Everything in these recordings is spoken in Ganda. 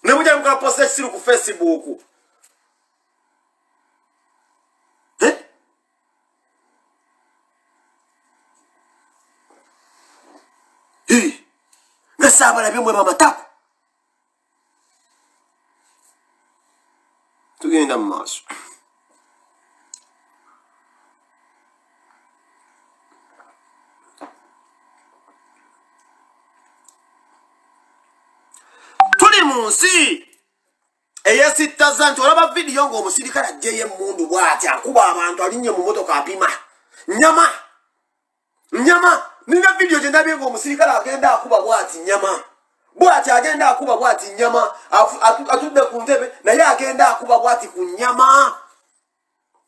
ne mujja muka post ekisiru ku facebook eh? nga saabalabye mwe bamatako tugenda mu maaso tuli mu nsi eyesittaza nti olaba vidiyo ng'omusirikale ajjeyo emmundu bwati akuba abantu alinye mu motoka apima nyama nyama nina vidiyo gye ndabye ngaomusirikale agenda akuba bwati nyama bwati agenda akuba bwati nyama atudde ku ntebe naye agenda akuba bwati ku nyama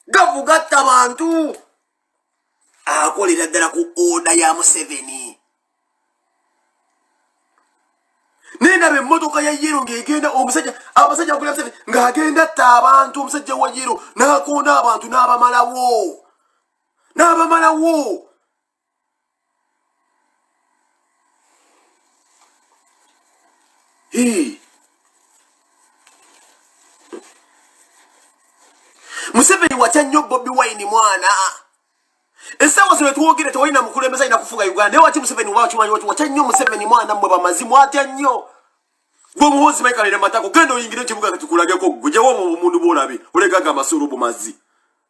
gavu gatta bantu akolera ddala ku oda ya museveni naye ndaba emmotoka ya yero ng'egenda omusajja abasajja bakulira museveni ng'agenda atta abantu omusajja wa yero n'akonda abantu n'abamalawo n'abamalawo museveni watya nnyo bobi wine mwana esawa zino twogere tewalina mukulembeza alina kufuga uganda naye waki museveni wakimanyi wati watya nnyo museveni mwana mmwe bamazi mwatya nnyo gwe omuhoozi maikalera matako genda oyingire ekibuga katukulageko gwe jawo omuntu bwolabe olegaga amasuru bumazi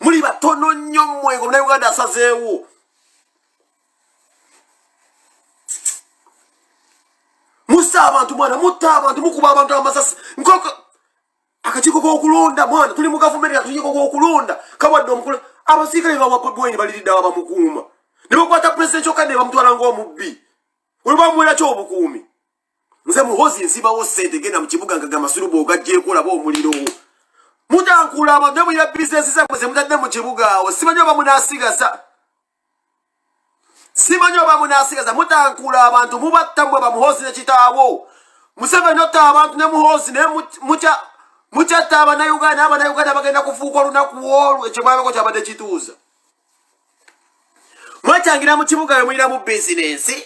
muli batono nnyo mmwe nga muna uganda asazeewo musa abantu mwana mutta abantu mukuba abantu amasasi nkoko akakiiko kokulonda mwana tuli mu gavumenti akakiiko kokulonda kawadde omukulu abasiikale bawabweni baliridde aba bamukuuma ne bakwata pulezidenti kyokka ne bamutwala ngaomubbi olwobamuweraki obukuumi nze muhozi nsibawo sente genda mu kibuga nga gamasulu bwogajjeeko olaba omuliro mutankula abadde mulira bizinesi zamwe ze mutadde mu kibuga awo simanyi oba munasigaza simanyi oba munasigaza mutankula abantu mubatta mwe bamuhozi ne kitaawo museveni otta abantu ne muhozi naye mukyatta abanauganda abanauganda bagenda kufuuka olunaku olwo ekyo mwabeko kyabadde kituuza mwetangira mu kibuga we mulira mu bizinensi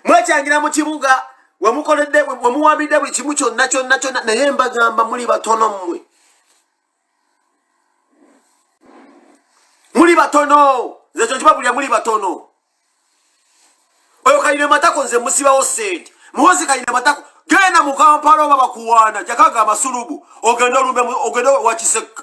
mwekyangira mu kibuga wemukoledde wemuwambidde buli kimu kyonna kyonna kyonna naye mbagamba muli batono mmwe muli batono nze kyo kibabulira muli batono oyo kayina matako nze musibawo sente muhozi kayina matako genda mu kampala oba bakuwaana jakaaga amasulubu ogenda olumbe ogenda wakisekka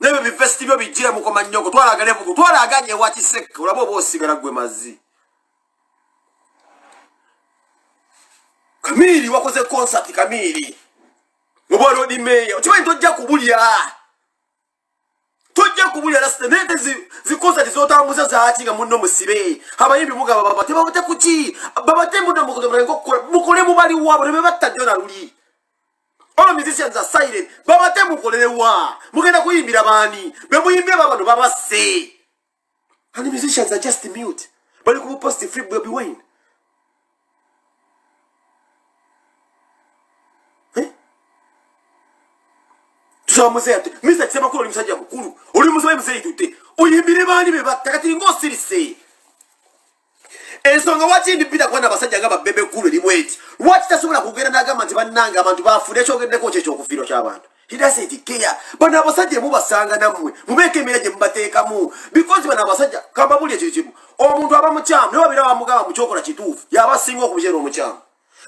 nebyo bivesiti byo bijire mukoma nyoko twalagale bugu twalaganye wakisek olaba oba osigala gwe mazi kamiri wakoze concert kamiri oba lodi meya okimanyi tojja kubulya tojja kubulya lasita naye te zikonsati zotambuza zaaki nga munno musibe abayimbi mugaba babate babate kuki babate mudde mukole mubaliwabo ne bebatta jona luli All musicians are silent. Baba te mukolele wa. Mugenda kuyimbira bani. Be muyimbira baba no baba say. And the musicians are just mute. Bali ku post free Bobi Wine. Eh? Tusawa mzee ati. Misa kisema kuro ni msajia mkuru. Uli mzee mzee itute. Uyimbire bani beba. Takati ngo siri say. ensonga waki ndipita kuba nabasajja nga babebe ggulu erimu eti lwaki tasobola kugenda n'agamba nti bannange abantu bafude ekyogeddeko kyo ekyokufiiro ky'abantu hidasitikeya bano abasajja emubasanga nammwe mubeeko emira gye mubateekamu bikozi bano abasajja kambabuli ekyo kimu omuntu aba mukyamu naye babeera bamugamba mukyokola kituufu yaba asinga okubyera omukyamu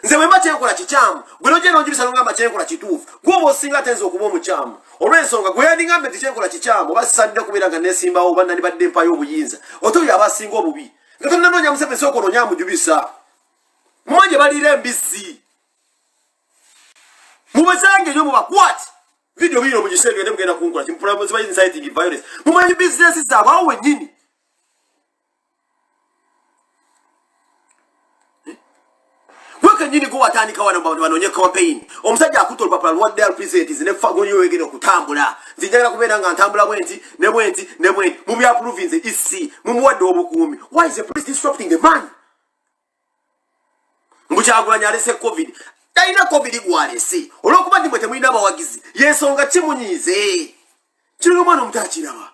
nze bwemba kyenkola kikyamu gwe nogenda onjubisa nongamba kyenkola kituufu gwoba osinga atenza okuba omukyamu olwensonga gwe yandingambe nti kyenkola kikyamu oba sisanidde kubeera nga nesimbawo oba nani badde empayo obuyinza ote oyo aba asinga obubi nga tonanoonya museveni sooka onoonya amujubisa mumanje baliira embizzi mubazange nyo mubakwati vidiyo biyina omugisenge ne mugenda kunkola kimupulamuzibayinsayitingi violence mumanyi bizinesi zaabwe awo wenyini kenyini gwe watandika wano bantu banoonye campaign omusajja akuta olupapula lwa dal presents ne fagonyo wegere okutambula nti njagala kubeera nga ntambula bwenti ne bwenti ne bwenti mu bya province ec mumuwadde obukuumi why is the police disrupting the man mbu kyagulanyi alese covid talina covid gwalese olwokuba ndi mwe temulina abawagizi yensonga kimunyiize kirina omwana omuto akiraba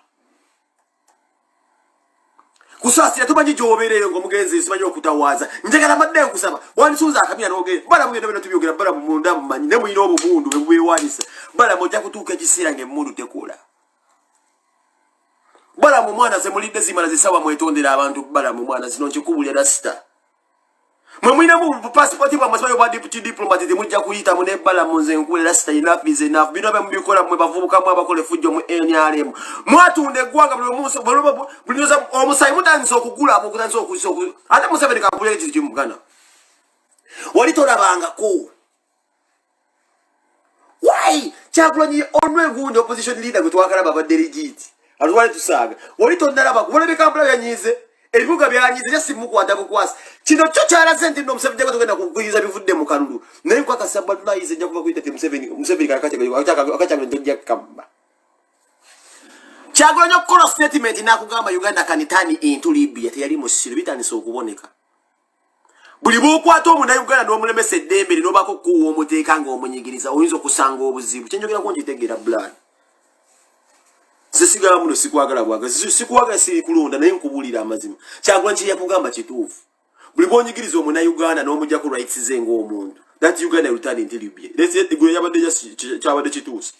kusaasira tumanyi gyobeereeyo nga omugenzi simanyi okutawaaza njagala madde nkusaba wandisuuza akamira nogere balamu byona byona tubyogera balamu munda mumanyi ne mulina obumundu bwebubeewanyisa balamu ojja kutuuka ekiseera ngaemundu tekula balamu mwana zemulidde zimala zisaba mwetondera abantu balamu mwana zino nkikubulya rasita mwe mulinamu bupasipoti bwamwe sibayo bwa deputy diplomat temujja kuyitamu ne balamu nze nkuwe rasita enough is enough bino bye mubikola mwe bavubukamu abakola efujjo mu nrm mwatunda eggwanga bulimunsobuliza omusayi mutandisa okugula mukutandisa okusa ate museveni kampulire kiri kimugana wali tolabangako why kyagulanyi only who the opposition leader gwe twakalaba abadde legit atwale tusaaga wali tonnalaba kubona bikampala byanyiize ebibuga byanyiize ja simukwata bukwasi kino kyo kyalaze nti no museveni jaga togenda kugwiza bivudde mu kalulu naye nkwakasa balayize nja kuba kuyita ti museveni museveni kakakyaga ntojja kukamba kyagulanyi okukola statement nakugamba uganda kanitani into libya teyali musiro bitandise okuboneka buli bwokwata omunayuganda nomulemesa eddembe li nobako okukuwa omuteeka nga omunyigiriza oyinza okusanga obuzibu kyenjogerako nkitegera blan zesigala muno sikwagala bwaga sikwagala sirikulonda naye nkubulira amazima kyagula kyeyakugamba kituufu buli bwonyigiriza omunayuganda nomujako rights ze ngaomuntu that uganda return until you be let's say gwe yabadde kyabadde kituusa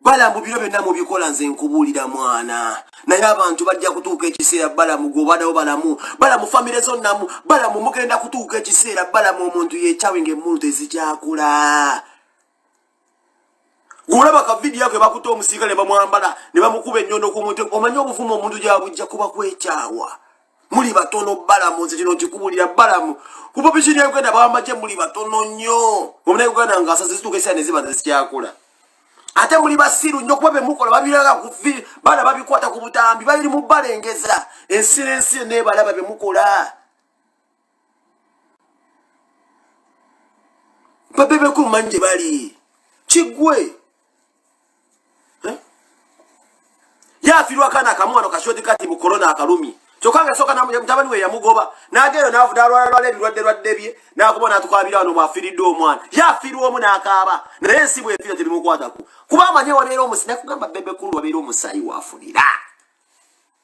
balamu biro byonna mubikola nze nkubuulira mwana naye abantu bajja kutuuka ekiseera balamu gwobadawo balamu balamu famire zonnamu balamu mugenda kutuuka ekiseera balamu omuntu yekyawe ngaemmulu tezikyakula gwolaba ka vidiyo ako ebakuta omusiika ne bamwambala ne bamukuba ennyondo ku muntu omanye obuvumu omuntu gyabujja kuba kwekyawa muli batono balamu nze kino kikubulira balamu ku popisioni ya uganda bawamagye muli batono nnyo omuna uganda nga asaze zituuka esaa neziba zezikyakula ate muli basiru nnyo kuba bemukola babiraga kuvi bana babikwata ku butambi babiri mubalengeza ensi nensi nebalaba bemukola babebeko mumanyi gye bali kigwe yafirwa kana kamwano kashodi kati mu corona akalumi kyokka nga soka mutabani we yamugoba nageeyo navudalwalalwala ebirwadde lwadde bye nakuba natukwabira wano mwafiridde omwana yafirwa omu nakaaba naye ensi bwefira tebimukwatako kuba amanye wabeera omusi nakugamba bebekulu wabeera omusayi wafunira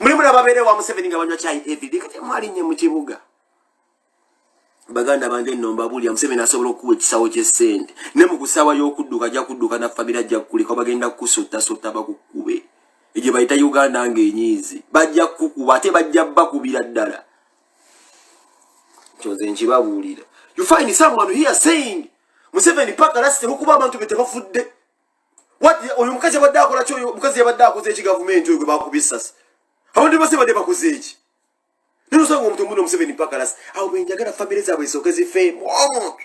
muli mulaba beere wa museveni nga banywa kyayi evide kati mwalinye mu kibuga baganda bange nno mbabulira museveni asobola okukuwa ekisawo ky'essente ne mu kusaawa y'okudduka ajja kudduka na famira ajja kukuleka bagenda kukusotasota bakukube egye bayita uganda ng'enyiizi bajja kukukuba ate bajja bakubira ddala kyoze nkibabuulira you find someone here saying museveni paka lasite lwokuba abantu be tebafudde oyo mukazi yabadde akola ki oyo mukazi yabadde akoze eki gavumenti oyo gwe bakuba essasi abantu bose badde bakoze eki naye osanga omuntu omuno omuseveni pakalasi awo bwenjagala famire zaabwe zisooke zifeemu omuntu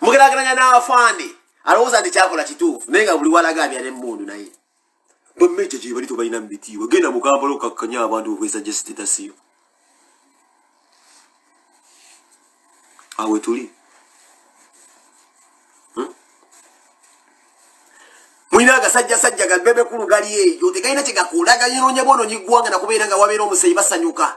mugerageranya n'afande alowooza nti kyakola kituufu naye nga buli walaga abya nemundu naye bamma ekyo gyebali tobalina mubitiibwa genda mukambala okakkanya abantu okwesa jestitasiyo awe tuli hmm? mulina agasajja sajja gabebekulu gali eyo tegalina kyegakulaga yinonya bwono nyigwanga nakubeera nga wabeera omuseyi basanyuka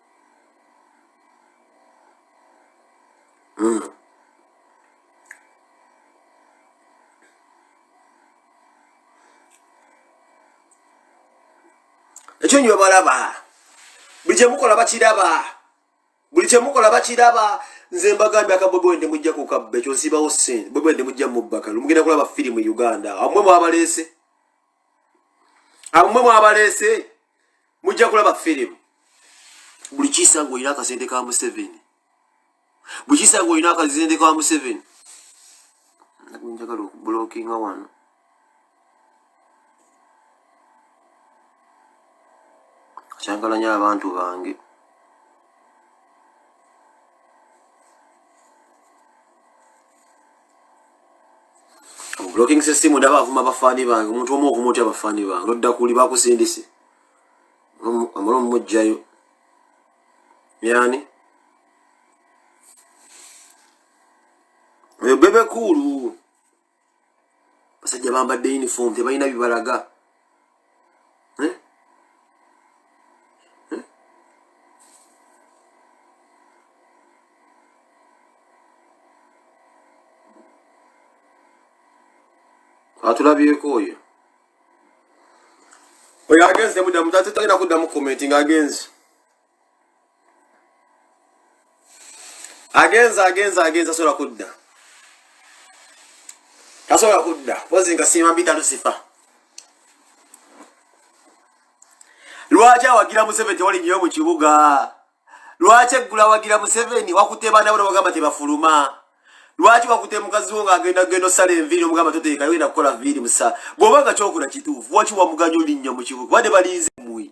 ekyo nyo balaba buli kyemukola bakiraba buli kyemukola bakiraba nze mbagambye akabwebwende mujja kukabba ekyo nsibawo sente bwebwende mujja mubbakalu mugenda kulaba firimu uganda amwe mwabaleese amwe mwabaleese mujja kulaba firimu buli kisa ng'olina akasente ka museveni buli kisa ng'olina akasente ka museveni njagala okubulokinga wano kyangalanya abantu bange blocking system ndaba avuma bafaani bange omuntu omu ovuma otya bafaani bange nodda kuli bakusindise amala omumugjayo yani oyo bebe kuulu basajja bambadde uniform tebalina bibalaga eh? Eh? atulabyeko oyo oyo agenze muddamu tatagenda kuddamu komenti nga agenzi agenza agenza agenza sobola kudda tasobola kudda kozi nga siima mpita lusifa lwaki awagira museveni tewali nyoyo mu kibuga lwaki eggula awagira museveni wakute baana bona bagamba tebafuluma lwaki wakute mukazi wo ngaagenda genda osala enviiri omugamba toteeka yogenda kukola viiri musa bw'oba nga kyokula kituufu waki wamuganya olinnyo mu kibuga bade balinze mwi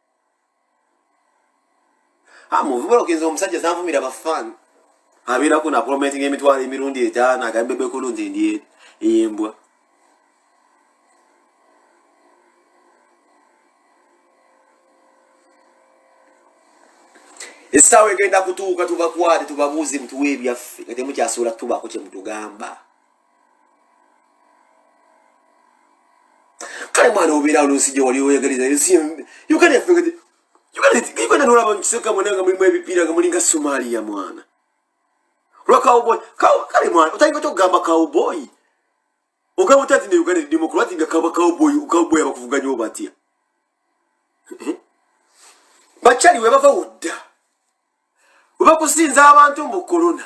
amuvubolokeza omusajja zanvumira bafan abeerako naprometinga emitwalo emirundi etaano agambe bekulu nti ndi embwa essaawa egenda kutuuka tubakwate tubabuuze mutuwa ebyaffe nga temukyasuula kutubaako kyemutugamba kale mwana obeerawo nonsijja wali oyagaliza uganda nolaba mukiseka mwena nga mulimu ebipiira nga mulinga somalia mwana olwa cowboy kale mwana otayinga otya okugamba cowboy ogamba otya nti ne uganda edimu kulwati nga kaba cowboy cowboy abakuvuganya obatya eh? bakyali webava wudda webakusinza abantu mbu corona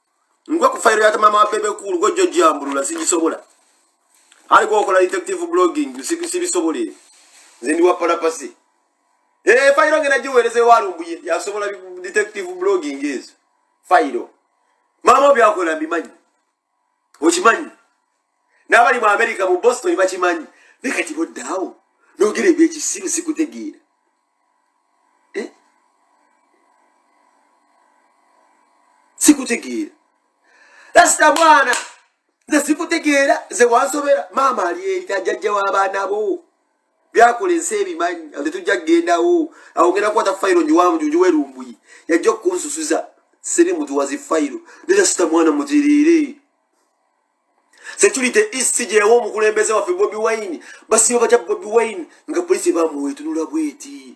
ngwe ku fayiro ya tamama wa bebe kuulu gwe jjo jambulula sigisobola ali gwokola detective blogging sibisobola ebyo nze ndi wa palapasi ee eh, fayiro ngena giweereza ewalumbuye yasobola detective blogging ezo fayiro maama obyakola mbimanyi okimanyi n'abali mu amerika mu boston bakimanyi naye kati boddaawo nogera ebyekisiru sikutegeera eh? sikutegeera lasita mwana nze sikutegeera nze wansobera maama ali eri tajajja w'abaana bo byakola ensi ebimanyi ate tujja kugendawo awongera kukwata fayiro nyiwamu juju werumbuyi yajja okukunsusuza siri mutuwazi fayiro ne lasita mwana mugiriire security isi gyewo omukulembeze waffe bobi wine basiba batya bobi wine nga polisi bamuwetunula bweti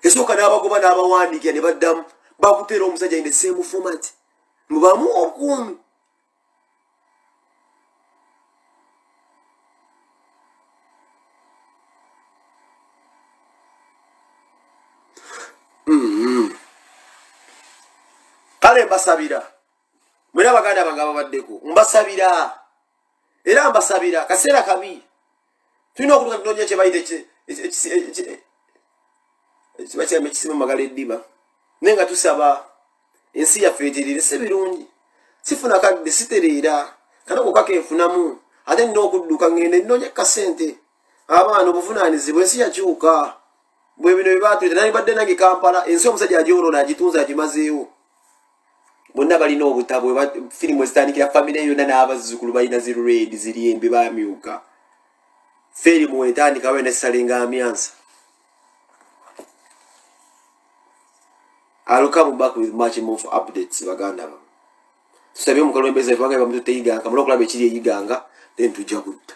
esooka n'abagoba n'abawandiikira ne baddamu bakuteera omusajja in the same format mubamu okuumi kale mbasabira mwena baganda bange ababaddeko mbasabira era mbasabira kaseera kabi tulina okutuka tunonya kyebayita kibakyama ekisima magala eddiba naye nga tusaba ensi yaffe eterere si birungi sifuna kadde sitereera kana kokaka enfunamu ate nina okudduka ngende nnonya kasente abaana obuvunaanizibwa ensi yakyuka bwebino byebatuleta nalibadde nange kampala ensi omusajja agyolona agitunza agimazeewo bonna balina obutabo firimu ezitandikira famire yonna n'abazzukulu balina zi red ziri embi bamyuka firimu wetandikawo ena esalinga amyansa I'll come back with much more for updates baganda ba. Tusabye mu kalwembeza ifanga ba mtu teiga kama lokula bechiri yiganga then tujja kutta.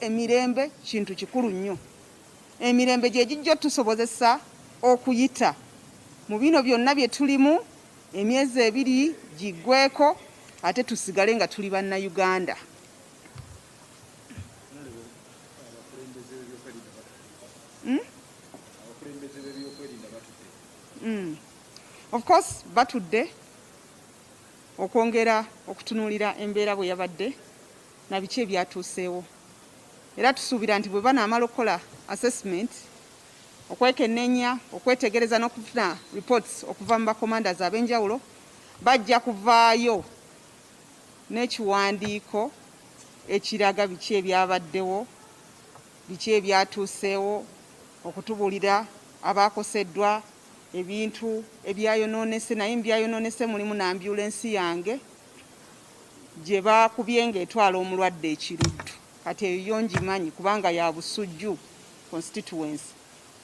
emirembe kintu kikulu nnyo emirembe gye gijja otusobozesa okuyita mu bino byonna bye tulimu emyezi ebiri giggweko ate tusigale nga tuli bannayuganda hmm? Hmm. Of course batudde okwongera okutunuulira embeera bwe yabadde na biki ebyatuuseewo era tusuubira nti bwe banaamala okukola assessment okwekenneenya okwetegereza n'okufuna reports okuva mu bakomandas ab'enjawulo bajja kuvaayo n'ekiwandiiko ekiraga biki ebyabaddewo biki ebyatuuseewo okutubuulira abaakoseddwa Ebintu ebyayonoonese naye mu byayonoonese mulimu n'ambyulensi yange gye baakubye ng'etwala omulwadde e Kiruddu. Kati eyo yo ngimanyi kubanga ya Busujju constituency.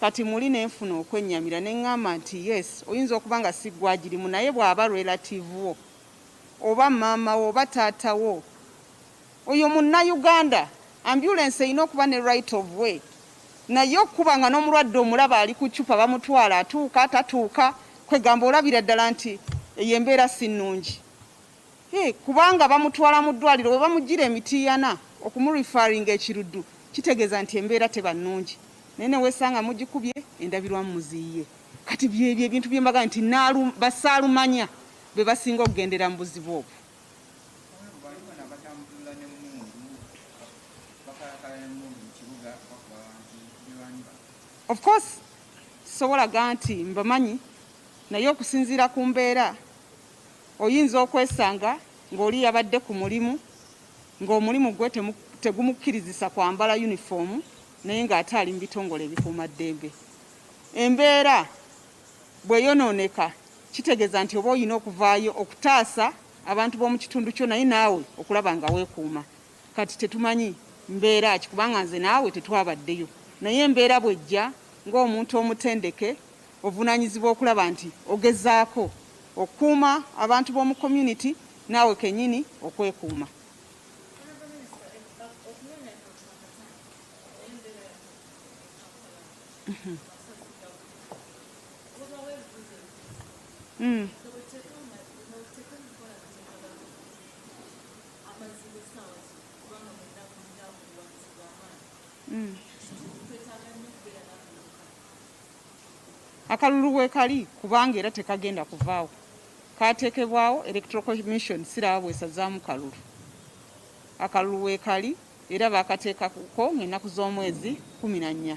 Kati muli ne nfuna okwennyamira ne ŋŋamba nti yes oyinza okuba nga si ggwe agirimu naye bw'aba relative wo oba maama wo oba taata wo Oyo munna Uganda. Ambulance erina okuba ne right of way naye okukuba nga nomulwadde omulaba ali ku ccupa bamutwala atuuka tatuuka kwegamba olabira ddala nti eyo embeera si nnungi e, kubanga bamutwala mu ddwaliro bwe bamujjira emitiiyana okumurifaringa ekiruddu kitegeeza nti embeera teba nnungi naye newesanga mugikubye endabirwamu muziyiye kati byebyo ebintu byembaga nti basaalumanya be basinga okugendera mu buzibu obwo. Of course sobola ganti mbamanyi naye okusinziira ku mbeera oyinza okwesanga ng'oli yabadde ku mulimu ng'omulimu gwe tegumukkirizisa kwambala yunifoomu naye ng'ate ali mu bitongole ebikuuma ddembe embeera Bweyononeka kitegeza nti oba oyina okuvaayo okutaasa abantu bomukitundu kyo naye naawe okulaba nga wekuuma. Kati tetumanyi mbeera ki kubanga nze naawe tetwabaddeyo naye embeera bwejja ng'omuntu omutendeke ovunanyizibwa okulaba nti ogezaako okukuuma abantu bomu community naawe kenyini okwekuuma. Mm. Mm. akalulu wekali kubanga era tekagenda kuvaawo katekebwawo electoral commission siraba bwesazaamu kalulu akalulu wekali era baakateekako ng'ennaku z'omwezi kkumi na nnya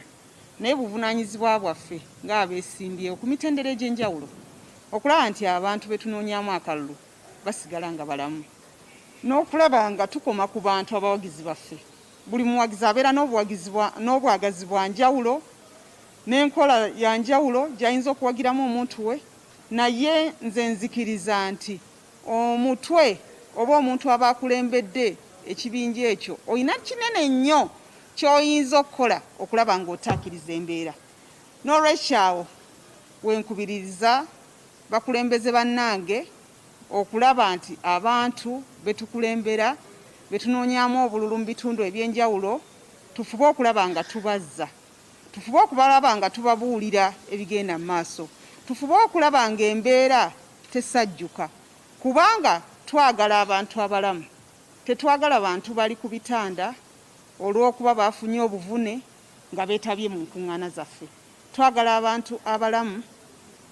naye buvunaanyizibwa bwaffe ng'abeesimbyewo ku mitendera egy'enjawulo okulaba nti abantu be tunoonyaamu akalulu basigala nga balamu n'okulaba nga tukoma ku bantu abawagizi baffe buli muwagizi abeera n'obwagazi bwa njawulo n'enkola ya njawulo gy'ayinza okuwagiramu omuntu we naye nze nzikiriza nti Omutwe oba omuntu aba akulembedde ekibinja ekyo olina kinene nnyo ky'oyinza okukola okulaba ng'otaakiriza embeera. N'olwekyo awo we nkubiririza bakulembeze bannange okulaba nti abantu be tukulembera be tunoonyaamu obululu mu bitundu eby'enjawulo tufube okulaba nga tubazza, tufube okubalaba nga tubabuulira ebigenda mu maaso, tufube okulaba ng'embeera tesajjuka kubanga twagala abantu abalamu tetwagala bantu bali ku bitanda olw'okuba baafunye obuvune nga beetabye mu nkung'ana zaffe. Twagala abantu abalamu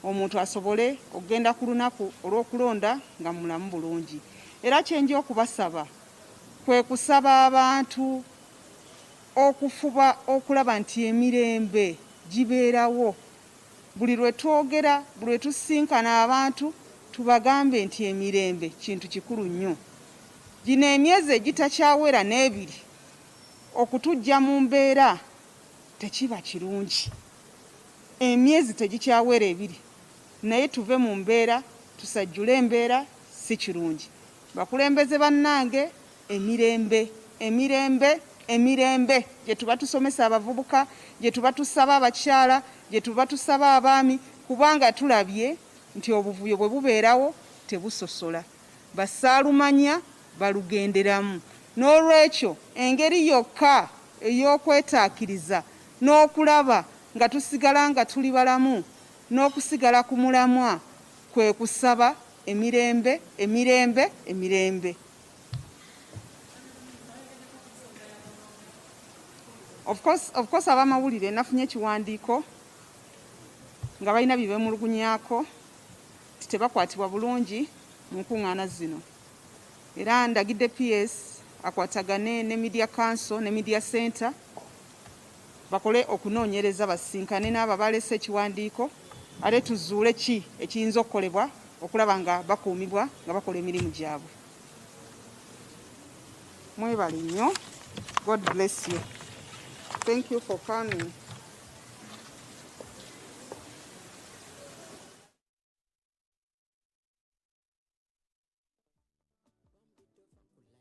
omuntu asobole okugenda ku lunaku olw'okulonda nga mulamu bulungi era kye nja okubasaba kwe kusaba abantu okufuba okulaba nti emirembe gibeerawo Buli lwe twogera, buli lwe tusisinkana abantu tubagambe nti emirembe kintu kikulu nnyo. Gino emyezi egitakyawera n'ebiri okutuggya mu mbeera tekiba kirungi. Emyezi tegikyawera ebiri naye tuve mu mbeera, tusajjule embeera si kirungi. Bakulembeze bannange Emirembe, emirembe, emirembe gyetuba tusomesa abavubuka, gyetuba tusaba abakyala, gyetuba tusaba abaami kubanga tulabye nti obuvuyo bwe bubeerawo tebusosola. Bassaalumanya balugenderamu. N'olwekyo engeri yokka ey'okwetaakiriza n'okulaba nga tusigala nga tuli balamu n'okusigala ku mulamwa kwe kusaba emirembe, emirembe, emirembe. Of course, of course abamawulire nafunye ekiwandiiko nga balina bye beemulugunyako nti tebakwatibwa bulungi mu nkuŋŋaana zino era ndagidde PS akwatagane ne Media Council ne Media Center bakole okunoonyereza basisinkane n'abo abaaleese ekiwandiiko ate tuzuule ki ekiyinza okukolebwa okulaba nga bakuumibwa nga bakola emirimu gyabwe. Mwebale nnyo. God bless you. Thank you for coming.